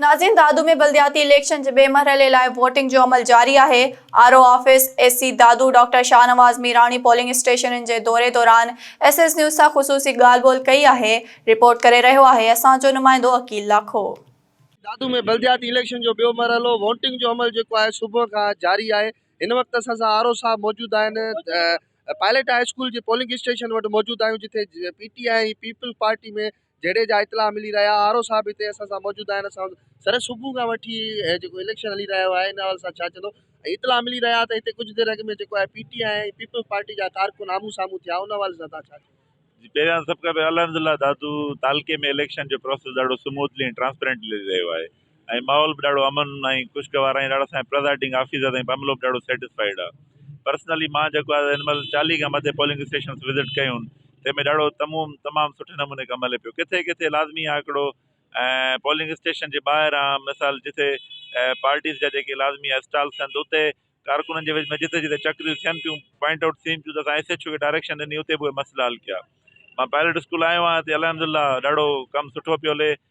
ناظرين دادو ۾ بلدياتي اليڪشن جي ٻئي مرحلي لاء ووٽنگ جو عمل جاري آهي، R O office A C Dadu doctor Shahnawaz Mirani polling اسٽيشنن جي دوري دوران ايس ايس نيوز سان خصوصي ڳالهه ٻولهه ڪئي آهي، رپورٽ ڪري رهيو آهي اسان جو نمائندو عقيل لاکو. دادو ۾ بلدياتي اليڪشن جو ٻيو مرحلو ووٽنگ جو عمل جيڪو آهي صبح کان جاري آهي، هن وقت اسان سان آر او صاحب موجود آهن، پائليٽ هاء اسڪول جي پولنگ اسٽيشن وٽ موجود آهيون جتي P T I ۽ Peoples Party ۾ جهيڙي جا اطلاع ملي رهيا آهن آر او صاحب هتي اسان سان موجود آهن اسان سر صبح کان وٺي جيڪو اليڪشن هلي رهيو آهي ان حوالي سان ڇا چوندو ۽ اطلاع ملي رهيا ته هتي ڪجهه دير اڳ ۾ جيڪو آهي P T I ۽ Peoples Party جا ڪارڪن آمهون سامهون ٿيا ان حوالي سان تان ڇا چوندو جي پهريان سڀ کان پهريان الحمدلله دادو تعلقي ۾ اليڪشن جو پروسيس ڏاڍو سموٿلي ۽ ٽرانسپيرنٽلي هلي رهيو آهي ۽ ماحول به ڏاڍو امن ۽ خوشگوار ۽ ڏاڍا سائين پرزائيڊنگ آفيسر تائين به عملو به ڏاڍو سيٽسفائيڊ آ پرسنلي مان جيڪو آ هن مهل چاليهه کان مٿي پولنگ اسٽيشنس وزٽ ڪيون تنهن ۾ ڏاڍو تموم تمام سٺي نموني ڪم هلي پيو ڪٿي ڪٿي لازمي آ هڪڙو پولنگ اسٽيشن جي ٻاهران مثال جتي پارٽيز جا جيڪي لازمي آ اسٽالس آهن ته اتي ڪارڪنن جي وچ ۾ جتي جتي چڪريون ٿين پيون پوائنٽ آئوٽ ٿين پيون ته اسان ايس ايڇ او کي ڊائريڪشن ڏني اتي به اهي مسئلا حل ڪيا مان پائلٽ اسڪول آيو آهيان هتي الحمد لله ڏاڍو ڪم سٺو پيو هلي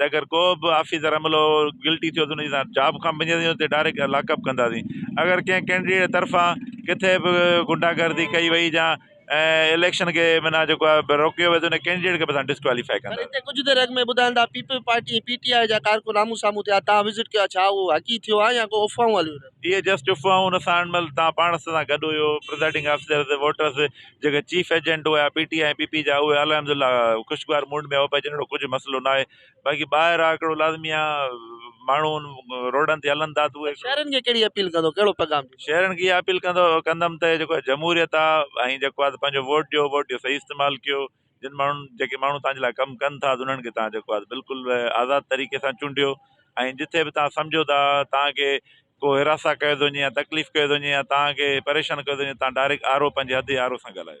ته اگر ڪو به آفيسر عملو گلٽي ٿيو ته ان جي سان جاب کان بنجي ٿيو ته ڊائريڪٽ لاڪ اپ ڪنداسين اگر ڪنهن ڪينڊيڊيٽ طرفان ڪٿي به غنڊا گردي ڪئي وئي جا اليڪشن کي معنيٰ جيڪو آهي روڪيو ويو ته ان ڪينڊيڊيٽ کي به اسان ڊسڪواليفائي ڪنداسين. پر هتي ڪجهه دير اڳ ۾ ٻڌائن ٿا Peoples Party ۽ P T I جا ڪارڪن آمهون سامهون ٿيا توهان وزٽ ڪيو آهي ڇا اهو حقيقي ٿيو آهي يا ڪو افواهون هليون رهيون آهن؟ اهي جسٽ افواهون ان سان مطلب توهان پاڻ سان گڏ هيو پرزائيڊنگ آفيسرز ووٽرز جيڪي چيف ايجنٽ هيا P T I ۽ P P جا اهي الحمد الله خوشگوار موڊ ۾ هئا پئي جن اهڙو ڪجهه مسئلو نه آهي باقي ٻاهر آ ڪهڙو لازمي آ ماڻهو روڊن تي هلن ٿا ته اهي شهرين کي ڪهڙي اپيل ڪندو ڪهڙو پيغام ڏيندو. شهرين کي اها اپيل ڪندو ڪندم ته جيڪو جمهوريت آ ۽ جيڪو آ ته پنهنجو ووٽ ڏيو ووٽ جو صحيح استعمال ڪيو. جن ماڻهن جيڪي ماڻهو توهان جي لاء ڪم ڪن ٿا انهن کي توهان جيڪو آهي بلڪل آزاد طريقي سان چونڊيو ۽ جتي به توهان سمجهو ٿا توهان کي ڪو حراسان ڪيو ٿو وڃي يا تڪليف ڪيو ٿو وڃي يا توهان کي پريشان ڪيو ٿو وڃي توهان ڊائريڪٽ آر او پنهنجي حد جي آر او سان ڳالهايو